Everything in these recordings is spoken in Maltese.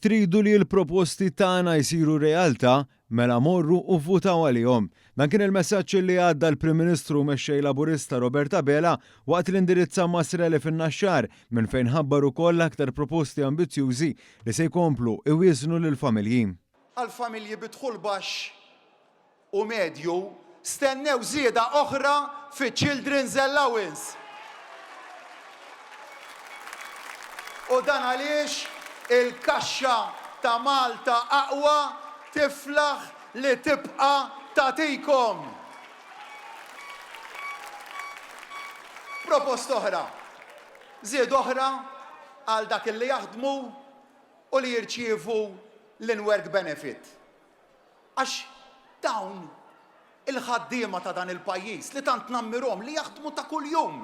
Tridu li l-proposti tagħna jsiru realtà? Mela morru u vvutaw għalihom. Dan kien il-messaġġ li għadda l-Prim Ministru u Mexxej Laburista Robert Abela waqt li indirizza Mass Rally fin-Naxxar minn fejn ħabbar ukoll aktar proposti ambizzjużi li se jkomplu iwieżnu lill-familji. Għall-familji bi dħul baxx u medju, stennew żieda oħra fiċ-Children's Allowance. U dan għaliex il-kaxxa ta' Malta Aqwa tiflaħ li tibqa' tagħtikom proposta oħra, żieda oħra għal dak li jaħdmu u li jirċievu l-in-work benefit. Għax dawn il-ħaddiema ta' dan il-pajjiż li tant nammirhom li jaħdmu ta' kuljum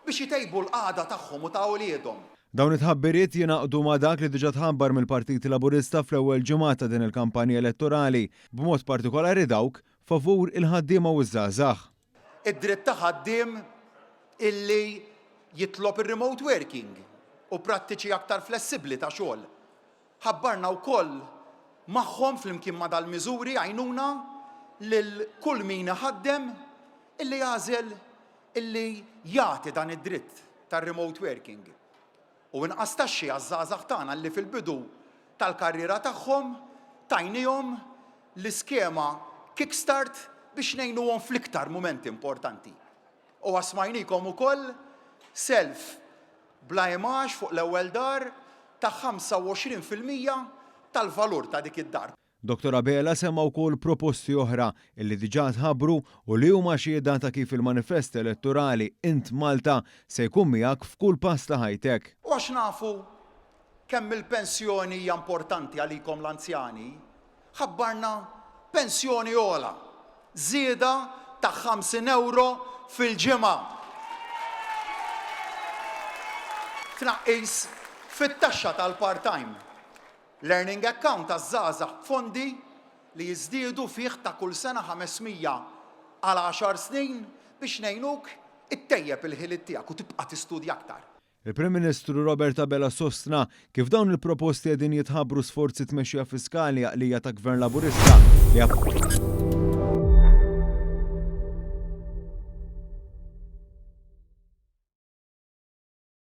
biex itejbu l-qagħda tagħhom u ta' uliedhom. Dawn it-tħabbiriet jingħaqdu ma' dak li diġà tħabbar mill-Partit Laburista fl-ewwel ġimgħat ta' din il-kampanja elettorali, b'mod partikolari dawk favur il-ħaddiema u ż-żgħażagħ. Id-dritt ta' ħaddiem illi jitlob ir-remote working u prattiċi aktar flessibbli ta' xogħol. Ħabbarna wkoll magħhom flimkien ma' dal-miżuri għajnuna lil kull min iħaddem illi għażel illi jagħti dan id-dritt tar-remote working. U inqas taxxi għaż-żgħażagħ tagħna li fil-bidu tal-karriera tagħhom tajniehom l-iskema Kick Start biex ngħinuhom fl-iktar mumenti importanti. U asmajniekom ukoll self bla imgħax fuq l-ewwel dar ta' 25 fil-mija tal-valur ta' dik id-dar. Dottor Abela semma wkoll proposti oħra li diġà tħabbru u li huma xhieda ta' kif il-manifest elettorali Int Malta se jkun miegħek f'kull pass ta' ħajtek. U għax nafu kemm il-pensjoni hija importanti għalikom l-anzjani, ħabbarna pensjoni ogħla, żieda ta' 50 ewro fil-ġimgħa, tnaqqis fit-taxxa tal-part-time, Learning Account għaż-Żgħażagħ b'fondi li jiżdiedu fih ta' kull sena 500 għal għaxar snin biex ngħinuk ittejjeb il-ħiliet tiegħek u tibqa' tistudja aktar. Il-Prim Ministru Robert Abela sostna kif dawn il-proposti qegħdin jitħabbru sforzi tmexxija fiskali għaqlija ta' Gvern Laburista li